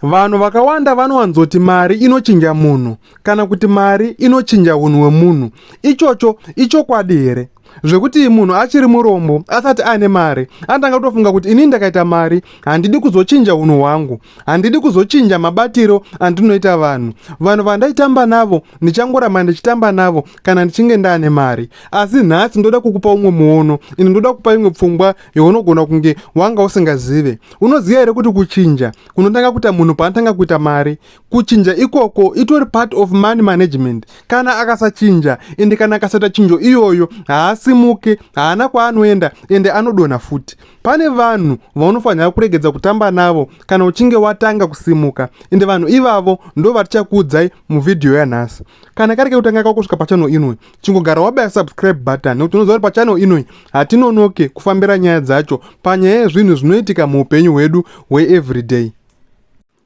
Vanhu vakawanda vanowanzoti mari inochinja munhu kana kuti mari inochinja unhu hwemunhu. Ichocho ichokwadi here? Zvekuti munhu achiri murombo asati aine mari anotanga kutofunga kuti ini ndakaita mari handidi kuzochinja unhu hwangu, handidi kuzochinja mabatiro andinoita vanhu. Vanhu vandaitamba navo ndichangoramba ndichitamba navo kana ndichinge ndaane mari. Asi nhasi ndoda kukupa umwe muono, ini ndoda kukupa imwe pfungwa younogona kunge wanga usingazive. unoziva here kuti kuchinja kunotanga kuita munhu paanotanga kuita mari kuchinja ikoko itori part of money management kana akasachinja ende kana akasaita chinjo iyoyo haasimuke haana kwaanoenda ende anodonha futi pane vanhu vaunofanira kuregedza kutamba navo kana uchinge watanga kusimuka ende vanhu ivavo ndo vatichakuudzai muvhidhiyo yanhasi kana kari kekutanga kakusvika pachano inwe chingogara wabaya subscribe button nekuti unoziva kuti pachannel inoi hatinonoke kufambira nyaya dzacho panyaya yezvinhu zvinoitika muupenyu hwedu hweeveryday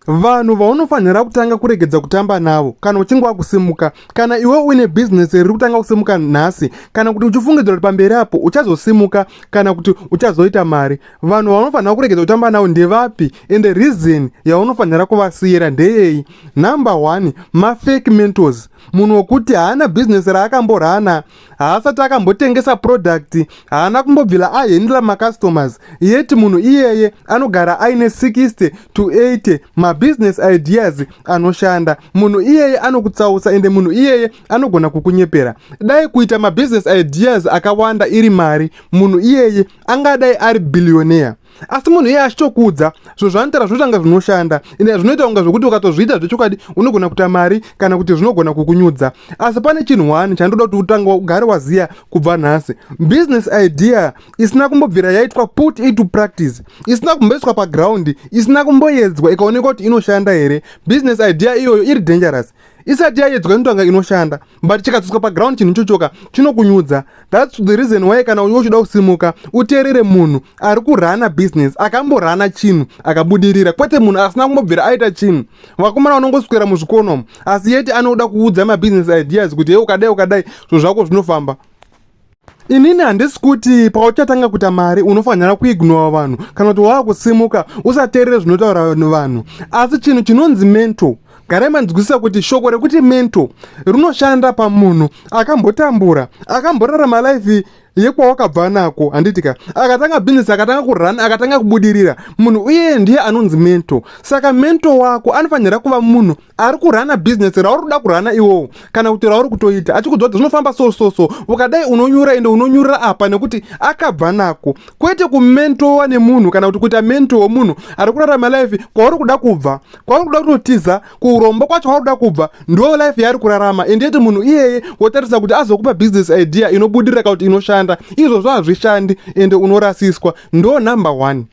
vanhu vaunofanira kutanga kuregedza kutamba navo kana uchinge wakusimuka kana iwe uine bhizinesi riri kutanga kusimuka nhasi kana kuti uchifungidzira kuti pamberi apo uchazosimuka kana kuti uchazoita mari vanhu vaunofanira kuregedza kutamba navo ndevapi and reason yaunofanira kuvasiyira ndeyei number one mafake mentors munhu wokuti haana bhizinesi raakamborana haasati akambotengesa product haana kumbobvila ahendla macustomers yet munhu iyeye anogara aine 60 to 80 mabusiness ideas anoshanda munhu iyeye anokutsausa ende munhu iyeye anogona kukunyepera dai kuita mabusiness ideas akawanda iri mari munhu iyeye angadai ari billionaire asi munhu iye achitokuudza zvinhu zvaanotaura zvinotanga zvinoshanda ende zvinoita kunga zvokuti ukatozviita zvechokwadi unogona kuita mari kana kuti zvinogona kukunyudza asi pane chinhu one chandoda kuti utanga ugare waziya kubva nhasi business idea isina kumbobvira yaitwa put into practice isina kumboiswa pagraundi isina kumboyedzwa ikaonekwa kuti inoshanda here business idea iyoyo iri dangerous isati yayedzwa inotanga inoshanda but chikadzodzwa paground chinhu ichochoka chinokunyudza thats the reason why kana uyo uchida kusimuka uteerere munhu ari kurana business akamborana chinhu akabudirira kwete munhu asina kumbobvira aita chinhu vakomana vanongoswera muzvikonomo asi yeti anoda kuudza mabhizinesi ideas kuti he ukadai ukadai zvo zvako zvinofamba inini handisi kuti pauchatanga kuita mari unofanira kuignora vanhu kana kuti wava kusimuka usateerere zvinotaura vanhu asi chinhu chinonzi mental garai manzwisisa kuti shoko rekuti mental rinoshanda pamunhu akambotambura akamborarama life yekwawakabva nako handitika akatanga bhizinesi akatanga kurun akatanga kubudirira munhu uye ndiye anonzi mento saka mento wako anofanira kuva munhu ari kurana business rauri kuda kurana iwowo kana kuti rauri kutoita achikudzwa kuti zvinofamba so so so ukadai unonyura ende unonyurira apa nekuti akabva nako kwete kumentowa nemunhu kana kuti kuita mento womunhu ari kurarama life kwauri kuda kubva kwauri kuda kutotiza kuromba kwacho kwauri kuda kubva ndo life yaari kurarama ende yeti munhu iyeye wotarisa kuti azokupa business idea inobudirira kana kuti inoshanda izvozvo hazvishandi ende unorasiswa ndo number one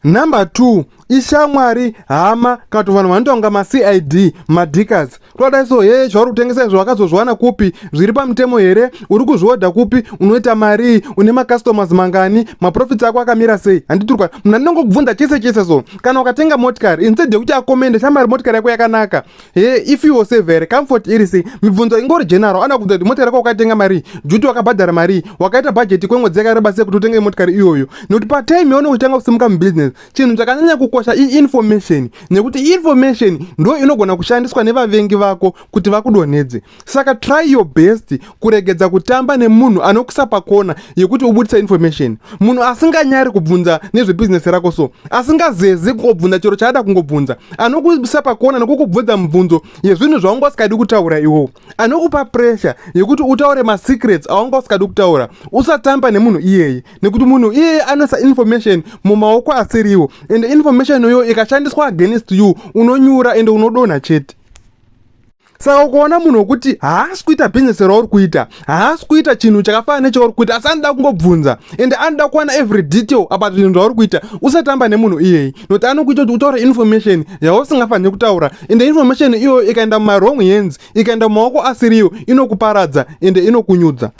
Number two ishamwari hama kato vanhu vanotonga macid madikas twadai so hee zvauri kutengesa izvo wakazozviwana kupi zviri pamutemo here uri kuzviodha kupi unoita marii une macustomers mangani maprofits ako akamira sei handiturwa munhu andinongokubvunza chese chese so kana ukatenga motikari instead yekuti akomende shamwari motikari yako yakanaka Hey, if you was severe, comfort iri sei? Mibvunzo ingori general, ana kubvunza kuti mota rako wakatenga mari, duty wakabhadhara mari, wakaita budget kwemwedzi yakareba sei kuti utenge motikari iyoyo. Nekuti pa time yaunenge uchitanga kusimuka mubusiness, chinhu chakanyanya kukosha i information, nekuti information ndo inogona kushandiswa nevavengi vako kuti vakudonhedze. saka try your best kuregedza kutamba nemunhu anokusa pakona yekuti ubudisa information munhu asinganyari kubvunza nezvebhizinesi rako so asingazezi kungobvunza chero chaada kungobvunza anokusa pakona nokukubvunza mibvunzo yezvinhu zvawanga usikadi kutaura iwowo anokupa pressure yekuti utaure masecrets awanga usikadi kutaura usatamba nemunhu iyeye nekuti munhu iyeye anoisa information mumaoko asiriwo ende information iyoyo ikashandiswa against you unonyura ende unodonha chete saka ukaona munhu wekuti haasi kuita business rauri kuita haasi kuita chinhu chakafanana nechauri kuita asi anoda kungobvunza ende anoda kuwana every detail about zvinhu zvauri kuita usatamba nemunhu iyeyi nokuti anokuita kuti utaure information yausingafaniri kutaura ende information iyoyo ikaenda mumawrong hands ikaenda mumaoko asiriyo inokuparadza ende inokunyudza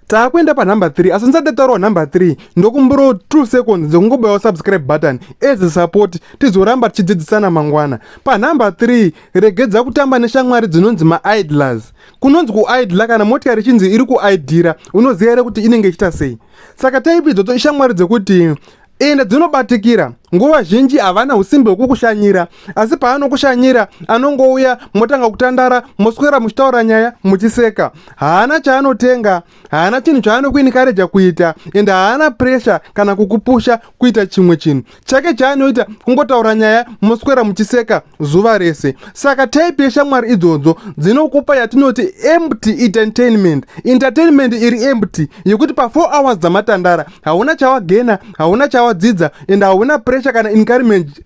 taakuenda panumber 3 asi ndisati taurawa number 3 ndokumburawo 2 seconds dzekungobayawo subscribe button as a support tizoramba tichidzidzisana mangwana panumber 3 regedza kutamba neshamwari dzinonzi maidlers kunonzi kuidla kana motikari ichinzi iri kuidhira unoziva here kuti inenge ichita sei saka taipidzo to ishamwari dzekuti ende dzinobatikira nguva zhinji havana usimbi hwekukushanyira asi paanokushanyira anongouya motanga kutandara moswera muchitaura nyaya muchiseka haana chaanotenga haana chinhu chaanokuinikareja kuita ende haana presha kana kukupusha kuita chimwe chinhu chake chaanoita kungotaura nyaya moswera muchiseka zuva rese saka type yeshamwari idzodzo dzinokupa yatinoti empty entertainment entertainment iri empty yekuti pa 4 hours dzamatandara hauna chawagena hauna chawadzidza and hauna pressure kana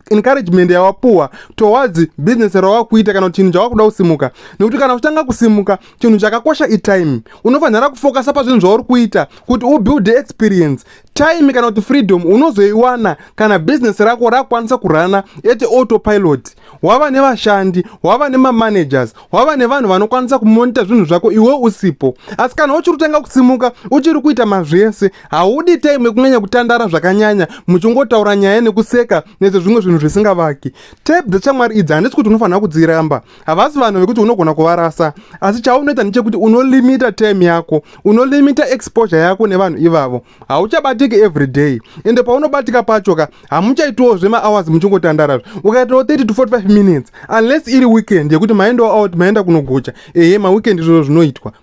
encouragement yawapuwa towards business rawakuita kana kuti chinhu chawakuda kusimuka nekuti kana uchitanga kusimuka chinhu chakakosha itime unofanira kufokasa pazvinhu zvauri kuita kuti ubuilde experience time kana kuti freedom unozoiwana kana business rako rakwanisa kurana at autopilot wava nevashandi wava nemamanagers wava nevanhu vanokwanisa kumonita zvinhu zvako iwe usipo asi kana uchiri kutanga kusimuka uchiri kuita mazvese haudi time yekunyanya kutandara zvakanyanya muchingotaura nyaya nekuseka nezvezvimwe zvinhu zvisingavaki tep dzechamwari idzi handisi kuti unofanira kudziramba havasi vanhu vekuti unogona kuvarasa asi chaunoita ndechekuti unolimita time yako unolimita exposure yako nevanhu ivavo hauchabatiki every day ende paunobatika pacho ka hamuchaitiwo zvemahours muchingotandarazve ukaitawo 30 to 45 minutes unless iri weekend yekuti maendawo out maenda kunogocha ehe maweekend izvozvo zvinoitwa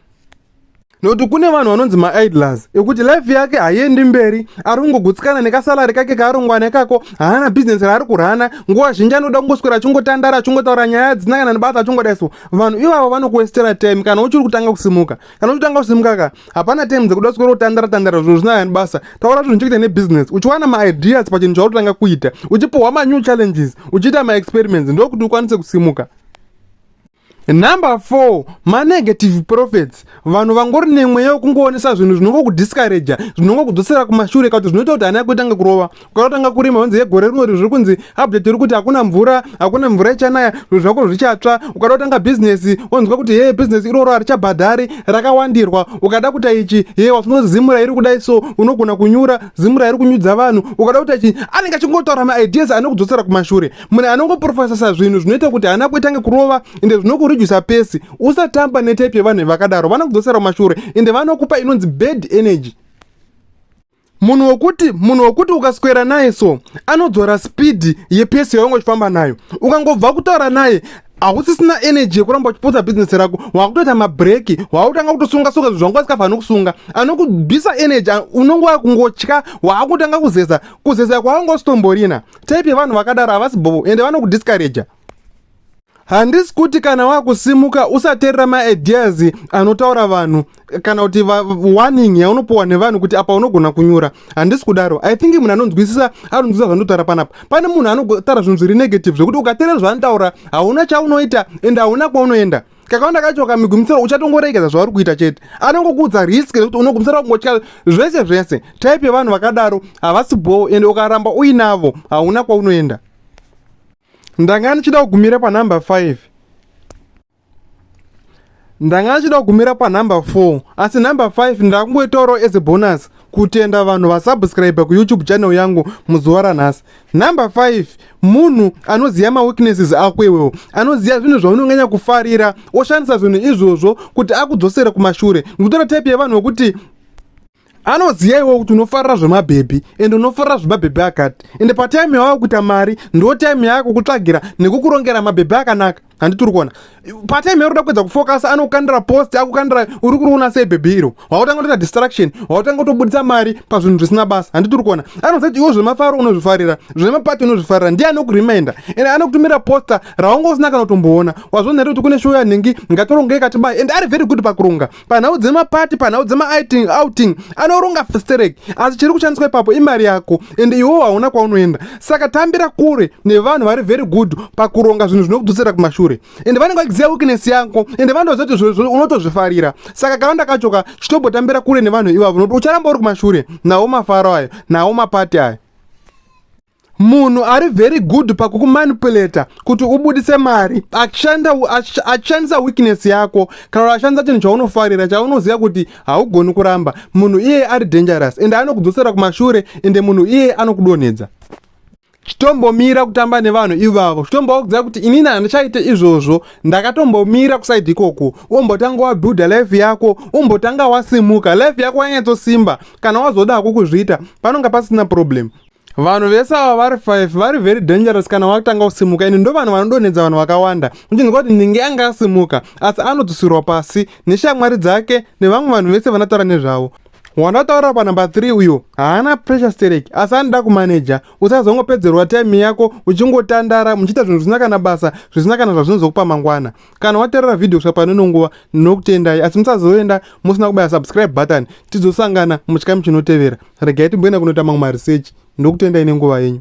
nokuti kune vanhu vanonzi maidlers ekuti life yake haiendi mberi ari kungogutsikana nekasalari kake kaarongwana ikako haana bhizinesi raari kurana nguva zhinji anoda kungoswera achingotandara achingotaura nyaya dzina kana nebasa achingoda iso vanhu ivavo vanokuestera time kana uchiri kutanga kusimuka kana uchitanga kusimuka ka hapana time dzekuda kuswera kutandara tandara zvinhu zvinaya nebasa taura zvinhu chekuita nebhizinesi uchiwana maideas pachinhu chautotanga kuita uchipuhwa manew challenges uchiita maexperiments ndokuti ukwanise kusimuka Number four, manegative prophets vanhu vangori nemweya wekungoonesa zvinhu zvinongokudiscouraja zvinongokudzosera kumashure kakuti zvinoita kuti ana yako itange kurova ukatotanga kurima honzi yegore rinori zviri kunzi update iri kuti hakuna mvura hakuna mvura ichanaya zvinhu zvako zvichatsva ukatotanga bhizinesi wonzwa kuti hee bhizinesi iroro harichabhadhari rakawandirwa ukada kuita ichi hee wasunoti zimu rairi kudai so unogona kunyura zimu rairi kunyudza vanhu ukada kuita ichi anenge achingotaura maideas anokudzosera kumashure munhu anongoprofesesa zvinhu zvinoita kuti hana kuitange kurova ende zvinokurijisa pesi usatamba netype yevanhu vakadaro vanokudzosera kumashure ende vanokupa inonzi bad energy munhu wekuti munhu wekuti ukaswera naye so anodzora spidi yepesi yaunge uchifamba nayo ukangobva kutaura naye hausisina energy yekuramba uchipotsa bhizinesi rako wakutoita mabreki wautanga kutosunga sunga zvinhu zvanga usikafaniri kusunga anokubisa energy unonge wakungotya waakutanga kuzeza kuzeza kwaanga usitomborina type yevanhu vakadaro havasi bhobo ende vanokudiscouraja handisi kuti kana wakusimuka usaterera maideas anotaura vanhu kana kuti warning yaunopiwa nevanhu kuti apa unogona kunyura handisi kudaro i think munhu anonzwisisa anonzwisisa zvandotaura panapa pane munhu anotaura zvinhu zviri negative zvekuti ukaterera zvaanotaura hauna chaunoita ende hauna kwaunoenda kakawanda kacho kamigumisira uchatongoregedza zvauri kuita chete anongokuudza risk nekuti unogumisira kungotya zvese zvese type yevanhu vakadaro havasi bhowo ende ukaramba uinavo hauna kwaunoenda ndanga ndichida kugumira panumber 5 ndanga ndichida kugumira panumber 4 asi number 5 ndakungoitaurawo as a bonus kutenda vanhu vasubscribe kuyoutube channel yangu muzuva ranhasi Number 5 munhu anoziva maweaknesses ako iwewo anoziva zvinhu zvaunonganya kufarira oshandisa zvinhu izvozvo kuti akudzosere kumashure ndikutora type yevanhu vekuti anoziva iwewo kuti unofarira zvemabhebhi ende unofarira zvemabhebhi akati ende patime yawava kuita mari ndo time yako kutsvagira nekukurongera mabhebhi akanaka handiti uri kuona patime yauri kuda kuedza kufokasa anokukandira post akukandira uri kuriona sei bhebhi iro wautanga kutoita distraction wautanga kutobudisa mari pazvinhu zvisina basa handiti uri kuona anoziva kuti iwo zvemafaro unozvifarira zvemapati unozvifarira ndiye anokurimainda and anokutumira posta raunga usina kana kutomboona wazvona here kuti kune show yanhingi ngatorongei katibai and ari very good pakuronga panhau dzemapati panhau dzemaiting outing anoronga festerek asi chiri kushandiswa ipapo imari yako ende iwewo hauna kwaunoenda saka tambira kure nevanhu vari very good pakuronga zvinhu zvinokudzosera kumashure ende vanenge vachiziva weakness yako ende vanotoziva kuti zvinhu izvozvo unotozvifarira saka kavanda kacho ka chitobotambira kure nevanhu ivavo nokuti ucharamba uri kumashure nawo mafaro ayo nawo mapati ayo munhu ari very good pakukumanipulata kuti ubudise mari achishandisa weakness yako kana kuti achishandisa chinhu chaunofarira chaunoziva kuti haugoni kuramba munhu iyeye ari dangerous ende anokudzosera kumashure ende munhu iyeye anokudonhedza chitombomira kutamba nevanhu ivavo chitombovakudzira kuti inini handichaite izvozvo ndakatombomira kusaidi ikoko umbotanga wabuilda life yako umbotanga wasimuka life yako yanyatsosimba kana wazoda hako kuzviita panonga pasina problem vanhu vese ava vari 5 vari very dangerous kana wakutanga kusimuka ini ndo vanhu vanodonhedza vanhu vakawanda uchinzwa kuti ninge anga asimuka asi anodzusirwa pasi neshamwari dzake nevamwe vanhu vese vanataura nezvavo wandataura panumber 3 uyo haana pressure sterek asi anoda kumaneja usazongopedzerwa time yako uchingotandara muchiita zvinhu zvisina kana basa zvisina kana zvazvinozokupa mangwana kana waterera video kusvika pano ino nguva ndinokutendai asi musazoenda musina kubaya subscribe button tizosangana muchikamu chinotevera regai timboenda kunoita mamwe maresearch ndokutendai nenguva yenyu